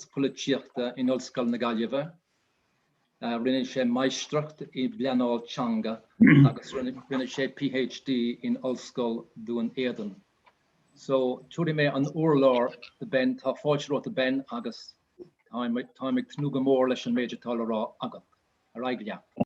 Polaitíochta in Ollscoil na Gaillimhe. Rinne sé Máistreacht i bPleanáil Teanga agus rinne sé PhD in Ollscoil Dhún Éideann. So, tabharfaidh mé an urlár do Ben, tá fáilte romhat a Ben agus táim ag tnúth go mór leis an méid atá le rá agat. Ar aghaidh leat.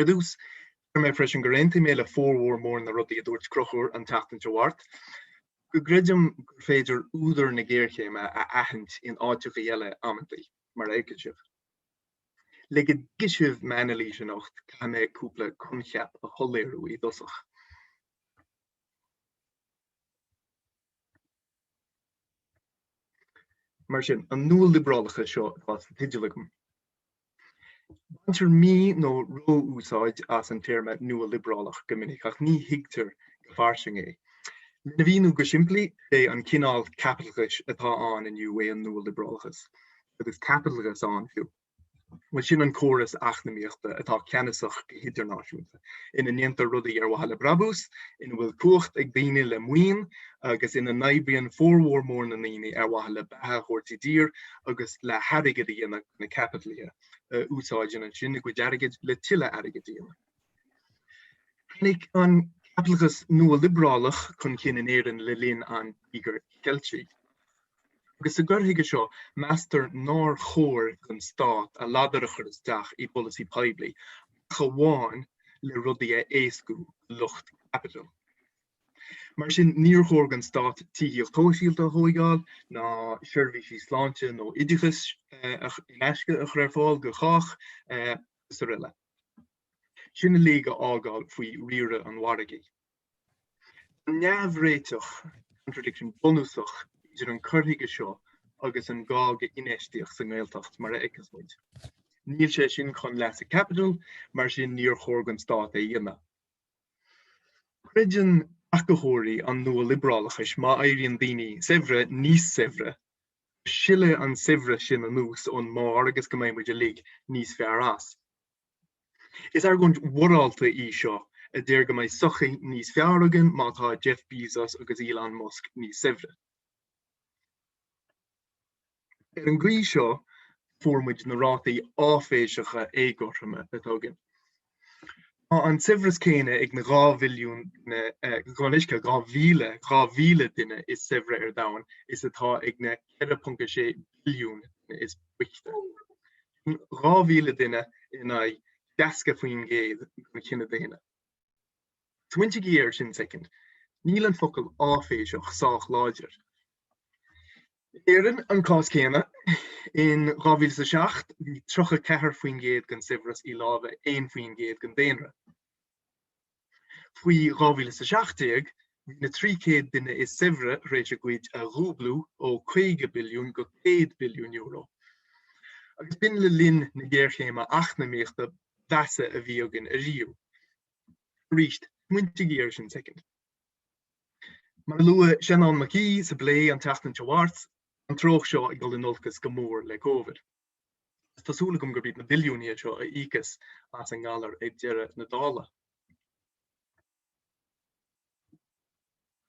Ar dtús, deir mé freisin gur aontaigh mé le formhór mór na rudaí a dúirt Conchúr an tseachtain seo thart, go gcreidim gur féidir údar na géarchéime a aithint in áiteachaí eile amantaí, mar a fheicfidh sibh. Le go dtuigfidh sibh m'anailís anocht, caithfidh mé cúpla coincheap a shoiléiriú i dtosach. Mar sin, an nua-liobrálachas seo atá sa teideal agam. Baintear mí nó ró-úsáid as an téarma nua-liobrálach go minic ach ní thuigtear go fairsing é. Lena mhíniú go simplí, is é an cineál caipitleachais atá ann inniu é an nua-liobrálachas, agus caipitleachas ann féin. bhuel sin an córas eacnamaíochta atá ceannasach go hidirnáisiúnta, ina ndéantar rudaí ar mhaithe le brabús, ina bhfuil cumhacht ag daoine le maoin agus ina n-oibríonn formhór mór na ndaoine ar mhaithe le beatha a thabhairt i dtír agus le hairgead a dhéanamh do na caipitlithe, a úsáideann ansin a gcuid airgid le tuilleadh airgid a dhéanamh. Tháinig an caipitleachas nua-liobrálach chun cinn in Éirinn le linn an Tíogair Cheiltigh, agus sa gcur chuige seo, meastar nár chóir don stát a ladar a chur isteach i bpolasaí poiblí ach amháin le rudaí a éascú do lucht caipitil. Mar sin, níor chóir don stát tithíocht shóisialta a thóigeáil, ná seirbhísí sláinte nó oideachais in aisce a chur ar fáil do chách, agus aroile. sin uilig a fhágáil faoi riaradh an mhargaidh. Tá neamhréiteach, contradiction, bunúsach idir an cur chuige seo agus an gá go hinfheistíocht sa nGaeltacht, mar a fheiceas muid. Níl sé sin chun leasa caipitil, mar sin níor chóir don Stát é a dhéanamh. Creideann tacadóirí an nua-liobrálachais má éiríonn daoine saibhre níos saibhre, silfidh an saibhreas sin anuas ón mbarr agus go mbeidh muid uilig níos fearr as. Is argóint mhorálta í seo a deir go mbeidh sochaí níos fearr againn má tá Jeff Bezos agus Elon Musk níos saibhre. Ar an gcaoi seo fuair muid na rátaí áiféiseacha éagothroime atá againn. Tá an saibhreas céanna ag na 2 mhilliún duine, gabh mo leithscéal, 2 mhíle, 2 mhíle duine is saibhre ar domhan is atá ag na 4.6 billiún duine is boichte. Sin 2 mhíle duine in aghaidh 60% den chine daonna. Smaointigí air sin soicind. Níl an focal áiféiseach sách láidir. In Éirinn an cás céanna. In 2007 bhí 34% den saibhreas i lámha 1% den daonra. Faoi 2017 bhí na 300 duine is saibhre tar éis a gcuid a dhúblú ó 50 billiún go 100 billiún euro. Agus b'in le linn na géarchéime eacnamaíochta ba mheasa a bhí againn ariamh. Arís, smaointigí air sin soicind. Mar a luaigh Seanán Mac Aoidh sa bplé an tseachtain seo a ghabh thart, tá an treocht seo ag dul in olcas go mór le Covid, agus tá súil agam gurb iad na billiúnaithe seo a íocfas as an ngalar ag deireadh na dála.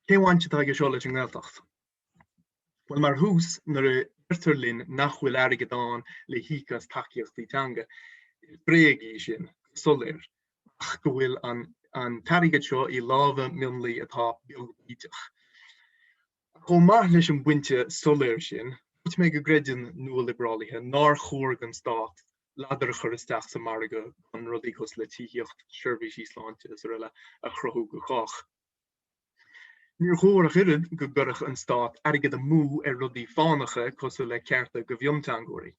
Cén bhaint atá aige seo leis an nGaeltacht? Bhuel, mar thús, nuair a deirtear linn nach bhfuil airgead ann le híoc as tacaíochtaí teanga, is bréag í sin, go soiléir, ach go bhfuil an t-airgead seo i lámha mionlaigh atá beag bídeach. Ach chomh maith leis an bpointe soiléir sin, dúirt mé go gcreideann nualiobrálaithe nár chóir don stát ladar a chur isteach sa margadh chun rudaí cosúil le tithíocht, seirbhísí sláinte, is araile, a chruthú do chách. Níor chóir ach oiread go gcuirfeadh an stát airgead amú ar rudaí fánacha cosúil le cearta do mhionteangóirí.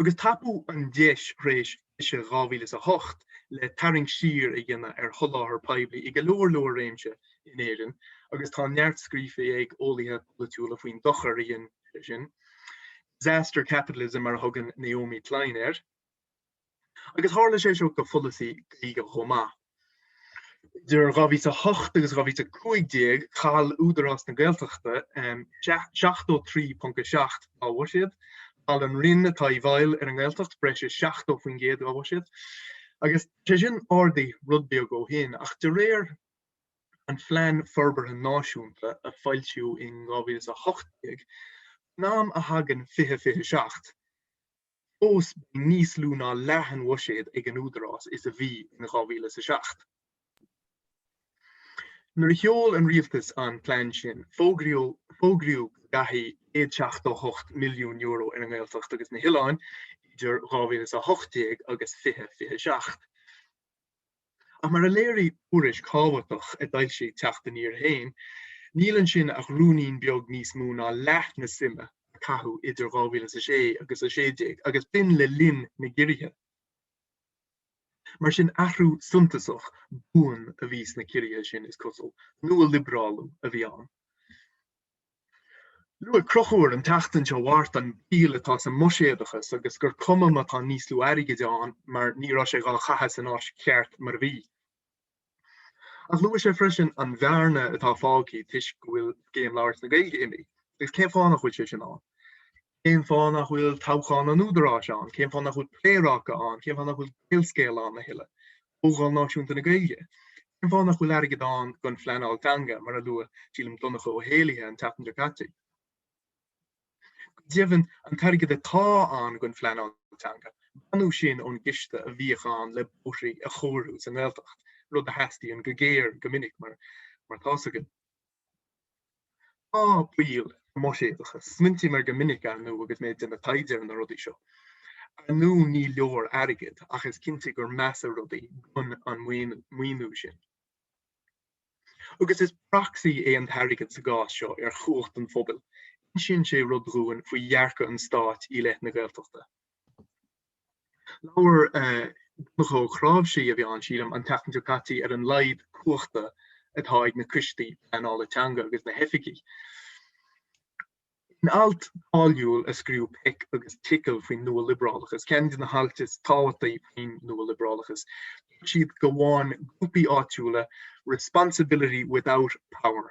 Agus tapaíodh an deis tar éis cliseadh 2008 le tarraingt siar a dhéanamh ar sholáthar poiblí i go leor leor réimse in Éirinn, agus tá neart scríofa ag eolaithe polaitiúla faoin dochar a dhéanann sé sin, 'disaster capitalism' mar a thugann Naomi Klein air. agus tharla sé seo do pholasaí Gaeilge chomh maith. Idir 2008 agus 2015, chaill Údarás na Gaeltachta 73.7 dá bhuiséad, chaill an Roinn atá i bhfeighil ar an nGaeltacht breis is 70% dá bhuiséad, agus tá sé sin ardaithe rud beag ó shin, ach de réir an Phlean Forbartha Náisiúnta a foilsíodh in 2018, faoin am a thagann 2027, fós beidh níos lú ná leath an bhuiséad ag an Údarás is a bhí in dhá mhíle is a seacht. Nuair a sheol an Rialtas an plean sin, fógraíodh go gcaithfí céad seachtó hocht milliún euro ar an nGaeltacht agus na hOileáin idir dhá mhíle is a hocht déag agus fiche fiche seacht. Ach mar a léirigh tuairisc thábhachtach a d'fhoilsigh Teacht Aniar féin, níl ansin ach rúinín beag níos mó ná leath na suime a caitheadh idir 2000 is a sé agus a sé déag, agus b'in le linn na gciorruithe. Mar sin, athrú suntasach buan a bhí sna ciorruithe sin, is cosúil. Nua-liobrálú a bhí ann. Luaigh Conchúr an tseachtain seo thart an baol atá sa mbuiséadachas agus gur cuma má tá níos lú airgid ann mar ní raibh sé dhá chaitheamh san áit cheart mar a bhí. Ach luaigh sé freisin an bhearna atá fágtha toisc go bhfuil Scéim Labhairt na Gaeilge imithe, agus cén fáth nach bhfuil sé sin ann? Cén fáth nach bhfuil toghchán an Údaráis ann? Cén fáth nach bhfuil Pléaráca ann? Cén fáth nach bhfuil Gaelscéal ann a thuilleadh? Comhdháil Náisiúnta na Gaeilge? Cén fáth nach bhfuil airgead ann don phleanáil teanga, mar a luaigh, sílim, Donncha Ó hÉallaithe an tseachtain seo caite? Go deimhin, an t-airgead atá ann don phleanáil teanga, baineadh sin ón gciste a bhíodh ann le bóithrí a chóiriú sa nGaeltacht, rud a theastaíonn go géar go minic, mar atá 's againn. Tá baol sa mbuiséadachas, smaointím air go minic, ar ndú, agus mé ag déanamh taighde ar na rudaí seo. Ar ndú ní leor airgead, ach is cinnte gur measa rudaí gan an maoiniú sin. Agus is proxy é an t-airgead sa gcás seo ar chumhacht an phobail, insíonn sé rud dhúinn faoi dhearcadh an stáit i leith na Gaeltachta. Labhair Donncha Ó Cnáimhsí, a bhí ann, sílim, an tseachtain seo caite ar an laghad cumhachta atá ag na coistí pleanála teanga agus na hoifigigh. In alt cáiliúil a scríobh Peck agus Tickell faoin nua-liobrálachas, ceann de na hailt is tábhachtaí faoin nua-liobrálachas, dúirt siad go bhfaigheann grúpaí áitiúla responsibility without power.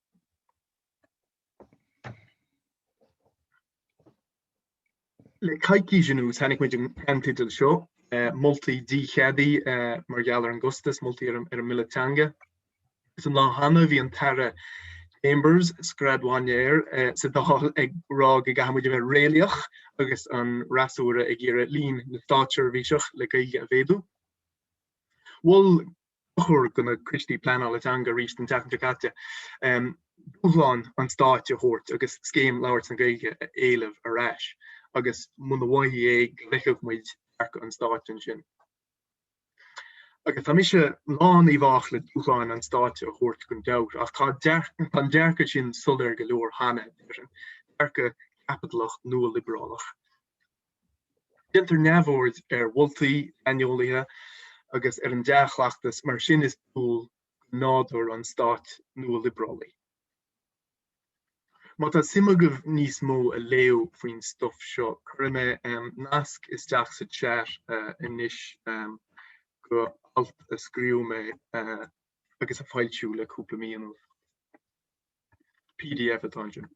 Le coicís anuas chonaic muid an ceannteideal seo, moltaí dícheadaithe mar gheall ar an gcostas, moltaí ar an mBille Teanga. Is an lá cheana bhí an tAire Chambers, scread mhaidne air, sa Dáil ag rá go gcaithfidh muid a bheith réalaíoch agus an fhreasúra ag iarraidh líon na státseirbhíseach le Gaeilge a mhéadú. Mhol Conchúr do na coistí pleanála teanga arís an tseachtain seo caite, dúshlán an stáit a thabhairt agus Scéim Labhairt na Gaeilge a éileamh ar ais, agus muna bhfaighfí é go bhfeicfeadh muid dearcadh an stáit ansin. Agus tá mise lán i bhfách le dúshlán an stáit a thabhairt gan dabht, ach tá an dearcadh sin soiléir go leor cheana, deirim, dearcadh caipitleach nua-liobrálach. Déantar neamhaird ar mholtaí saineolaithe agus ar an dea-chleachtas, mar sin is dual do nádúr an stáit nualiobrálaigh. Má tá suim agaibh níos mó a léamh faoin stuif seo, cuirfidh mé nasc isteach sa chat anois go alt a scríobh mé agus a foilsíodh le cúpla mí anuas. Pdf atá ansin.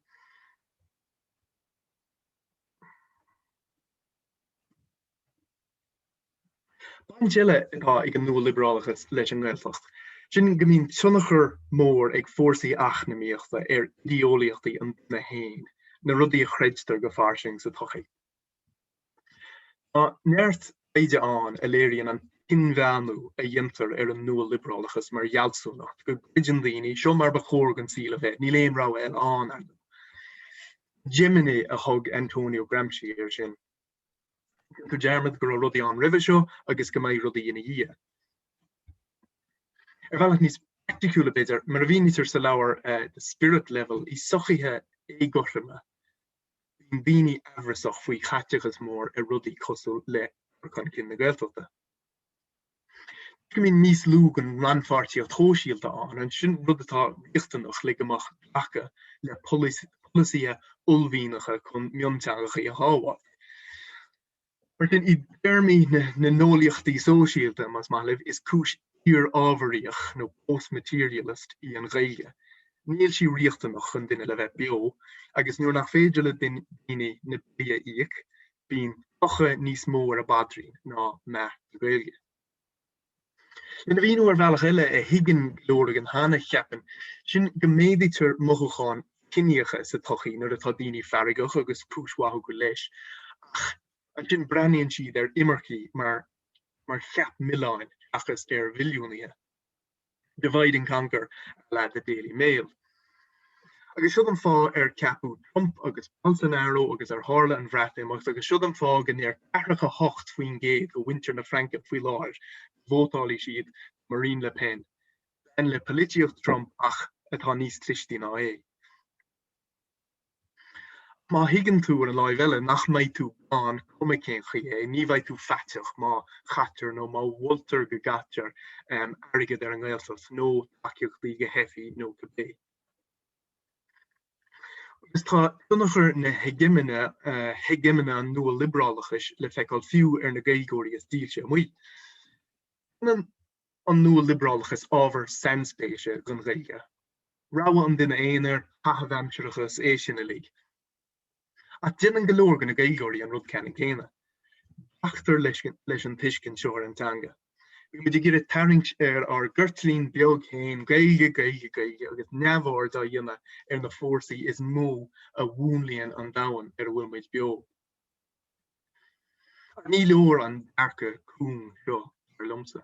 Baint eile atá ag an nualibrálachas leis an nGaeltacht, sin go mbíonn tionchar mór ag fórsaí eacnamaíochta ar idéolaíochtaí an duine féin, na rudaí a chreidtear go fairsing sa tsochaí. Tá neart taighde ann a léiríonn an t-inmheánú a dhéantar ar an nua-liobrálachas mar fhealsúnacht, go gcreideann daoine, seo mar ba chóir don saol a bheith, níl aon rogha eile ann, ar ndóigh. Hegemony a thug Antonio Gramsci air sin. Déantar dearmad go raibh rudaí ann roimhe seo agus go mbeidh rudaí ina dhiaidh. Ar bhealach níos praiticiúla, b'fhéidir, mar a mhínítear sa leabhar The Spirit Level, i sochaithe éagothroma, Bíonn daoine aimhreasach faoi chaiteachas mór ar rudaí cosúil le cur chun cinn na Gaeltachta. Bíonn níos lú den rannpháirtíocht shóisialta ann, ansin rud atá riachtanach le go mbeadh glacadh le polasaithe uaillmhianacha chun mionteangacha a shábháil. Mar sin, i dtéarmaí na n-eolaíochtaí sóisialta, más maith libh, is cúis iar-ábharaíoch nó post-materialist í an Ghaeilge. Níl sí riachtanach don duine le bheith beo, agus nuair nach féidir le daoine na billí a íoc, bíonn clocha níos mó ar a bpaidrín ná meath na Gaeilge. Lena mhíniú ar bhealach eile a thuigeann go leor againn cheana, cheapfainn, sin go méadaítear mothúcháin chiníocha sa tsochaí nuair atá daoine feargach agus cúis mhaith acu leis, ach ansin breathnaíonn siad ar imircigh mar mar cheap milleáin seachas ar mhilliúnaithe. Divide and conquer a la The Daily Mail. Agus siod an fáth ar ceapadh Trump agus Bolsonaro agus ar tharla an Bhreatimeacht agus siod an fáth go ndeir ceathracha a hocht faoin gcéad de mhuintir na Fraince faoi láthair go vótálfaidh siad Marine Le Pen, bean le polaitíocht Trump ach atá níos clistí ná é. Má thuigeann tú, ar an láimh eile, nach mbeidh tú gann, cuma cén chaoi é, ní bheidh tú faiteach má chaitear nó má mholtar go gcaitear airgead ar an nGaeltacht, nó tacaíochtaí, do theifigh nó cibé. Agus tá tionchar na heigeimine, heigeimine an nua-liobrálachais, le feiceáil fiú ar na Gaeilgeoirí is dílse amuigh. Déanann. an nua-liobrálachas ábhar sainspéise don Ghaeilge, rogha an duine aonair, caitheamh aimsire agus é sin uilig. Ach déanann go leor de na Gaeilgeoirí an rud ceannann céanna. Glactar leis an tuiscint seo ar an teanga. Bímid ag iarraidh tarraingt ar ár gceirtlín beag féin, Gaeilge, Gaeilge, Gaeilge, agus neamhaird á dhéanamh ar na fórsaí is mó a mhúnlaíonn an domhan ar a bhfuil muid beo. Ach ní leor an dearcadh cúng seo, dar liomsa.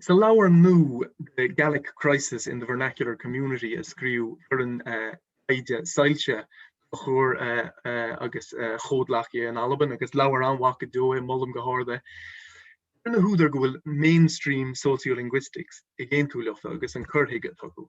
Sa leabhar nua The Gaelic Crisis in the Vernacular Community a scríobh foireann taighde Soillse, Conchúr agus a chomhghleacaithe in Albain, agus leabhar an-mhaith go deo é, molaim go hard é, deir na húdair go bhfuil mainstream sociolinguistics ag aontú leofa agus an cur chuige atá acu.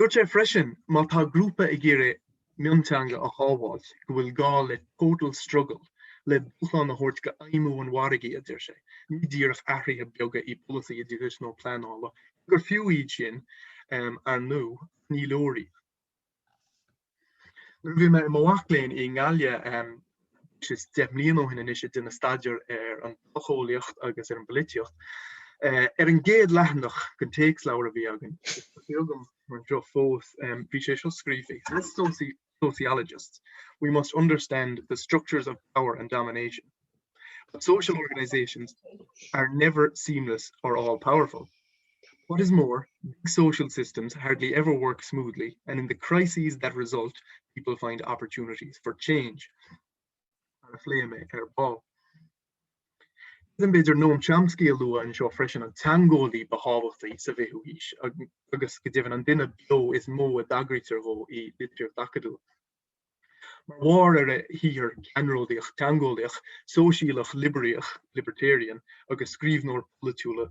Dúirt sé freisin má tá grúpa ag iarraidh mionteanga a shábháilt go bhfuil gá le total struggle le dúshlán a thabhairt d'fheidhmiú an mhargaidh, a deir sé. Ní díreach athruithe beaga i bpolasaí oideachais nó pleanála, cé gur fiú iad sin, ar ndú, ach ní leor iad. Nuair a bhí mé i mo mhac léinn i nGaillimh breis is deich mbliana ó shin anois ag déanamh staidéir ar an tsocheolaíocht agus ar an bpolaitíocht, ar an gcéad leathanach den téacsleabhar a bhí againn, tá sé agam anseo fós, bhí sé seo scríofa, As sociologists, we must understand the structures of power and domination. But social organisations are never seamless or all powerful. What is more, big social systems hardly ever work smoothly and in the crises that result people find opportunities for change. Mar a phléigh mé ar ball. Ní féidir Noam Chomsky a lua anseo freisin an teangeolaí ba thábhachtaí sa bhfichiú haois agus go deimhin an duine beo is mó a dtagraítear dhó i litríocht acadúil. Mar bharr ar a shaothar ceannródaíoch teangeolaíoch, sóisialach liobraíoch, libertarian, agus scríbhneoir polaitiúla,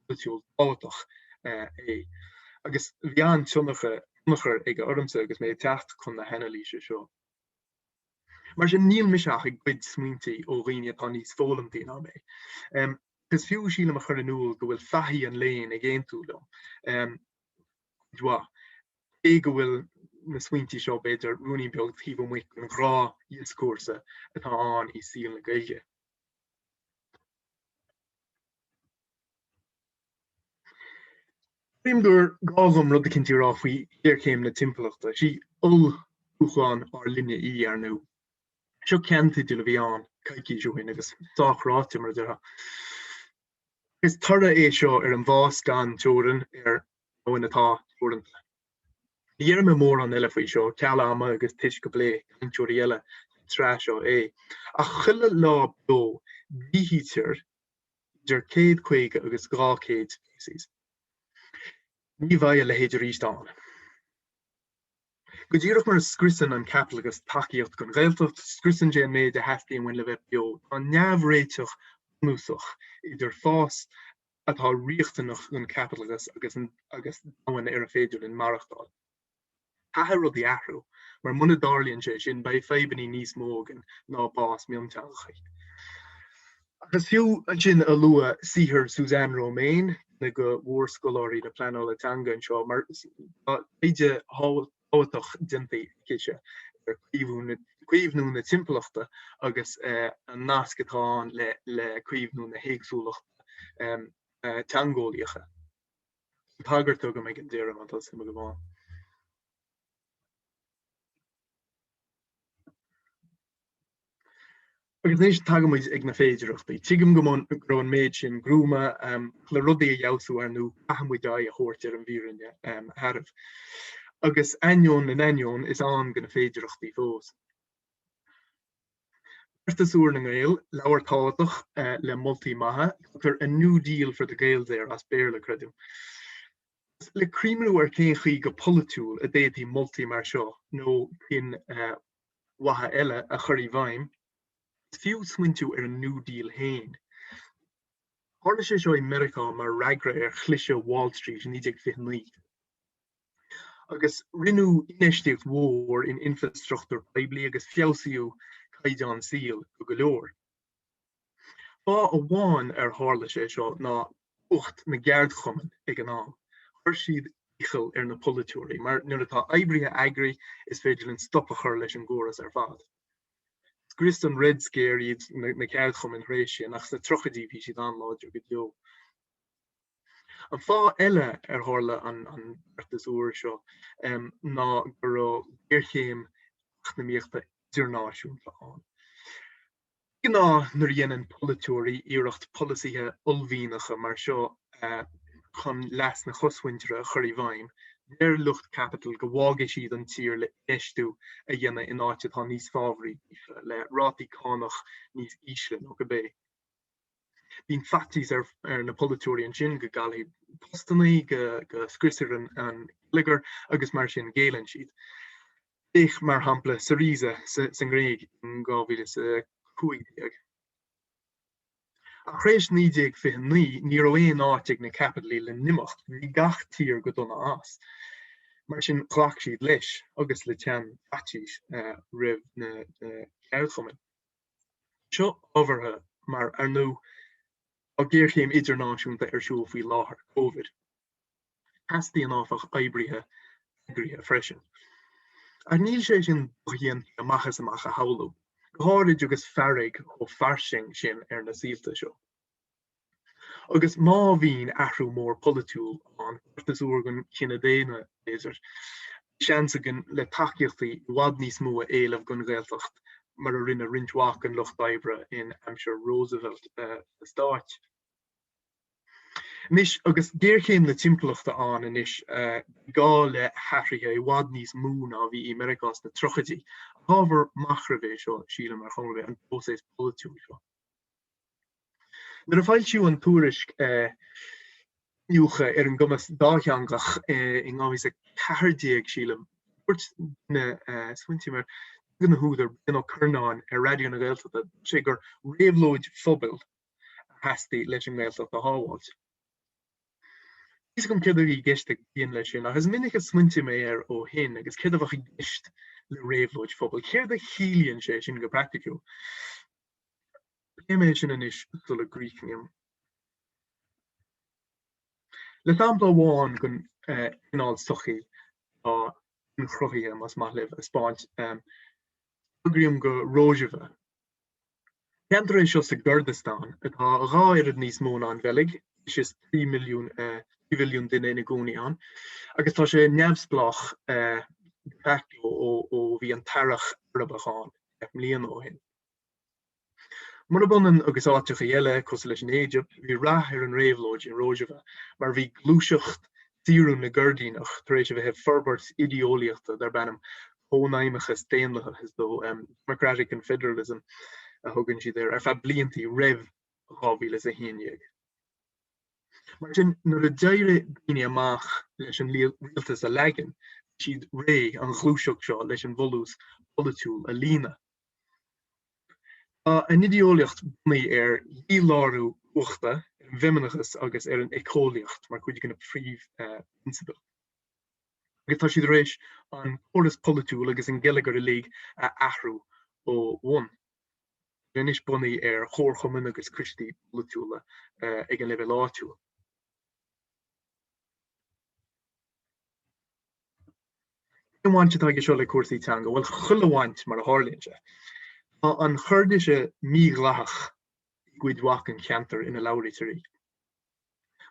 polaitiúil tábhachtach é, agus bhí an-tionchar aige ormsa agus mé ag teacht chun na hanailíse seo. Mar sin, níl mise ach ag goid smaointe ó dhaoine atá níos foghlamtaí ná mé. Is fiú, sílim, a chur in iúl go bhfuil fathaigh an léinn ag aontú liom, cuid mhaith. Cé go bhfuil na smaointí seo, b'fhéidir, ruainne beag taobh amuigh den ghnáth-dhioscúrsa atá ann i saol na Gaeilge, creidim gur gá dhom rud eicínt a rá faoi ghéarchéim na timpeallachta. Sí olldúshlán ár linne í, ar ndú. Seo ceannteideal a bhí ann coicís ó shin, agus sách ráite, mar a déarfá. Is toradh é seo ar an bhfás gan teorainn ar domhan atá teoranta. Ní dhéarfaidh mé mórán eile faoi seo, ceal ama agus toisc go bpléifidh cainteoirí eile sa tsraith seo é, ach chuile lá beo díothaítear idir céad caoga agus dhá chéad speiceas. Ní bheidh a leithéid arís ann. Go díreach mar a scriosann an caipitleachas tacaíocht don Ghaeltacht, scriosann sé an méid a theastaíonn uainn le bheith beo. Tá neamhréiteach bunúsach idir fás, atá riachtanach don chaipitleachas agus agus domhan ar a féidir linn maireachtáil. Caithfidh rudaí athrú, mar muna dtarlaíonn sé sin, beidh fadhbanna níos mó againn ná bás mionteangacha. Ach is fiú ansin a lua saothar Suzanne Romaine, duine de mhórscoláirí na pleanála teanga anseo, mar tá taighde thábhachtach, thábhachtach déanta aicise ar chaomhnú na timpeallachta agus an nasc atá ann le caomhnú na héagsúlachta teangeolaíocha. Tá tagairt agam ag an deireadh, má tá suim agaibh ann. Agus anois tagaimid ag na féidearthachtaí. Tuigim go raibh an méid sin gruama le rudaí a fheabhsú ar ndóigh caithfimid aghaidh a thabhairt ar an bhfírinne shearbh. Agus ainneoin na n-ainneoin, is ann do na féidearthachtaí fós. Beartas úr na nGael, leabhar tábhachtach le moltaí maithe, tugtar a new deal for the Gaels air, as Béarla creidim. Le cuimhniú ar cén chaoi go polaitiúil a d'fhéadfaí moltaí mar seo nó cinn mhaithe eile a chur i bhfeidhm, is fiú smaointiú ar an New Deal féin. Tharla sé seo i Meiriceá mar fhreagra ar chliseadh Wall Street i 1929, agus rinneadh infheistíocht mhór in infreastruchtúr poiblí agus feabhsaíodh caighdeán saoil do go leor. Fáth amháin ar tharla sé seo ná cumhacht na gceardchumann ag an am. Chuir siad iachall ar na polaiteoirí, mar nuair atá oibrithe eagraithe, is féidir linn stop a chur leis an gcóras ar fad. Scrios an Red Scare iad na ceardchumainn tar éis sin, ach sna tríochaidí bhí siad an-láidir go deo. An fáth eile ar tharla an beartas úr seo ná go raibh géarchéim eacnamaíochta idirnáisiúnta ann. De ghnáth nuair a dhéanann polaiteoirí iarracht polasaithe uaillmhianacha mar seo chun leas na cosmhuintire a chur i bhfeidhm, deir lucht caipitil go bhfágfaidh siad an tír le infheistiú a dhéanamh in áit atá níos fábhraí daofa, le rátaí cánach níos ísle nó cibé. Bíonn faitíos ar na polaiteoirí ansin go gcaillfidh postannaí, go scriosfar an geilleagar agus mar sin géilleann siad. Féach, mar shampla, Syriza sa nGréig in 2015. Ach tar éis 1929, ní raibh aon áit ag na caipitligh le n-imeacht, bhí gach tír go dona as. Mar sin ghlac siad leis, agus le teann faitís roimh na ceardchumainn. seo ábhartha mar, ar ndóigh, tá géarchéim idirnáisiúnta ar siúl faoi láthair, Covid. Teastaíonn, áfach, oibrithe eagraithe freisin. Ach níl sé sin dodhéanta amach is amach a shamhlú, go háirid agus fearg chomh fairsing sin ar na saolta seo. Agus má bhíonn athrú mór polaitiúil ann, uair sa saol don chine daonna, b'fhéidir, seans againn le tacaíochtaí i bhfad níos mó a éileamh don Ghaeltacht mar a rinne roinnt mhaith den lucht oibre in aimsir Roosevelt sna Stáit. Anois agus géarchéim na timpeallachta ann anois, beidh gá le hathruithe i bhfad níos mó ná a bhí i Meiriceá sna tríochaidí. Ábhar machnaimh é seo, sílim, ar chuma ar bith, an próiseas polaitiúil seo. Nuair a foilsíodh an tuairisc Iniúchadh ar an gcumas dátheangach in 2014, sílim, dúirt, nuair a smaointím air, duine de na húdair, Brian Ó Curnáin ar Raidió na Gaeltachta, dúirt sé gur réabhlóid phobail a theastaigh leis an nGaeltacht a shábháilt. Níl fhios agam céard a bhí i gceist ag Brian leis sin, ach is minic a smaointigh mé air ó shin agus céard a bheadh i gceist le réabhlóid phobail. Céard a chiallaíonn sé sin go praiticiúil? Pléimid sin anois sula gcríochnaím le sampla amháin den chineál sochaí atá inchruthaithe, más maith libh, a thaispeáint. Tagraím do Rojava. Ceantar é seo sa gCurdastáin atá dhá oiread níos mó ná an Bheilg, is trí mhilliún trí mhilliún duine ina gcónaí ann, agus tá sé neamhspleách de facto ó bhí an tEarrach Arabach ann deich mbliana ó shin. Murab ionann agus áiteachaí eile cosúil leis an Éigipt, bhí rath ar an réabhlóid i Rojava mar bhí gluaiseacht saorú na gCoirdíneach tar éis a bheith ag forbairt idí-eolaíochta darb ainm Cónaidhmeachas Daonlathach, is dóigh, Democratic Confederalism a thugann siad air, ar feadh bliantaí roimh 2011. Mar sin, nuair a d'éirigh daoine amach leis an rialtas a leagan, bhí siad réidh an ghluaiseacht seo leis an bhfolús polaitiúil a líonadh. Tá a n-idéolaíocht bunaithe ar dhílárú cumhachta, ar an bhfeimineachas agus ar an éiceolaíocht mar chuid de na príomhphrionsabail, agus tá siad tar éis an córas polaitiúil agus an geilleagar uilig a athrú ó bhonn. Tá anois bunaithe ar chomharchumainn agus coistí polaitiúla ag an leibhéal áitiúil. Cén bhaint atá aige seo le cúrsaí teanga? Bhuel, chuile bhaint, mar a tharlaíonn sé. Tá an Choirdise mídhleathach i gcuid mhaith den cheantar ina labhraítear í.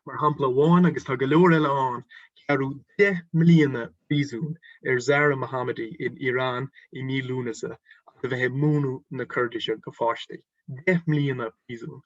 Mar shampla amháin, agus tá go leor eile ann, gearradh deich mbliana príosúin ar Zahra Mohammadi in Iran i mí Lúnasa as a bheith ag múineadh na Coirdise do pháistí. Deich mbliana príosúin!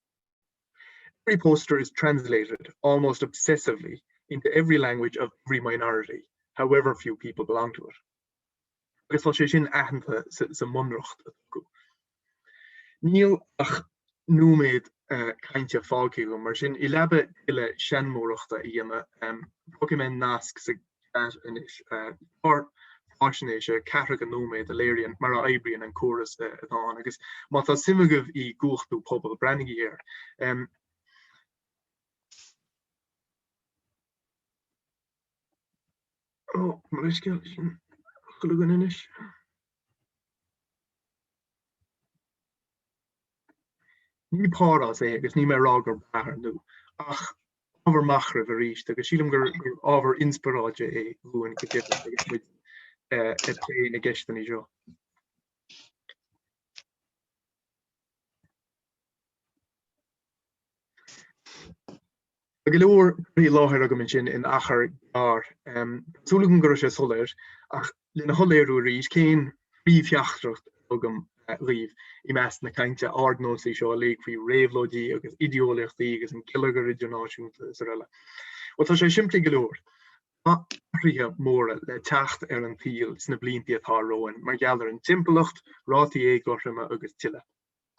Every poster is translated, almost obsessively, into every language of every minority, however few people belong to it. agus tá sé sin aitheanta sa mBunreacht atá acu. Níl ach nóiméad cainte fágtha agam, mar sin, i leaba tuilleadh seanmóireachta a dhéanamh, um, fágfaidh mé nasc sa chat anois clár faisnéise 40 nóiméad a léiríonn mar a oibríonn an córas atá ann agus má tá suim agaibh i gcumhachtú pobail, breathnaigí air. Ó, mo leithscéal sin an clog agam anois. Ní parthas é agus níl mé a rá gurb ea ar ndú, ach ábhar machnaimh arís agus sílim gur ábhar inspioráide é dhúinn go deimhin agus muid ag plé na gceisteanna seo. Tá go leor curtha i láthair agam ansin in achar gearr. Tá súil agam go raibh sé soiléir, ach lena shoiléiriú arís cén phríomhtheachtaireacht atá agam dhaoibh i measc na cainte ardnósaí seo uilig faoi réabhlóidí agus ideolaíochtaí agus an geilleagar idirnáisiúnta is araile. Bhuel, tá sé simplí go leor. Tá athruithe móra le teacht ar an tsaol sna blianta atá romhainn mar gheall ar an timpeallacht, rátaí éagothroime agus tuilleadh.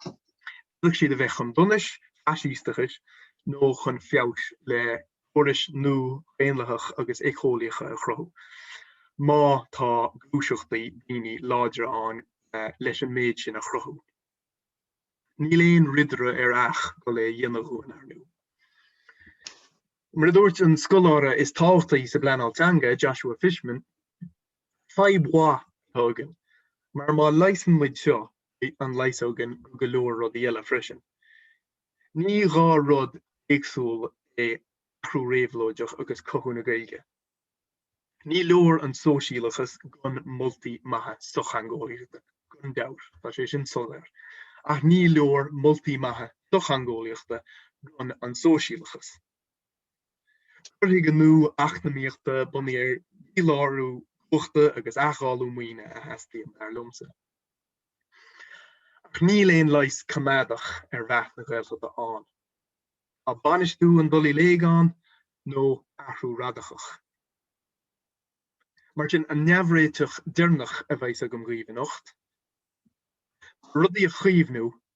D'fhéadfadh siad a bheith chun donais, faisisteachas nó chun feabhais le córais nua dhaonlathacha agus éiceolaíocha a chruthú, má tá gluaiseachtaí daoine láidre ann leis an méid sin a chruthú. Níl aon ridire ar each ag goil á dhéanamh dhúinn, ar ndú. Mar a dúirt an scoláire is tábhachtaí sa bpleanáil teanga, Joshua Fishman, Fadhb mhaith atá againn, mar má leigheasann muid seo, leigheasóidh muid go leor rudaí eile freisin. Ní dhá rud éagsúl é athrú réabhlóideach agus cothú na Gaeilge. Ní leor an sóisialachas gan moltaí maithe sochtheangeolaíochta, gan dabht, tá sé sin soléir, ach ní leor moltaí maithe sochtheangeolaíochta gan an sóisialachas. Cur chuige nua eacnamaíochta bunaithe ar dhílárú cumhachta agus athdháileadh maoine a theastaíonn, dar liomsa. Ach níl aon leigheas coimeádach ar mheath na Gaeltachta ann. Tá bainistiú an dul i léig ann, nó athrú radacach. Mar sin, an réiteach deireanach a bheidh agam dhaoibh anocht, rudaí a chaomhnú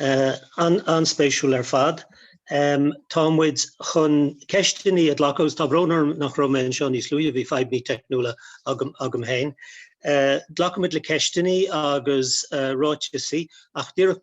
an-spéisiúil ar fad. Tá muid chun ceisteannaí a ghlacadh agus tá brón orm nach raibh mé anseo níos luaithe, bhí fadhbannaí teicniúla agam agam féin. Glacfaidh muid le ceisteannaí agus ráiteasaí ach díreach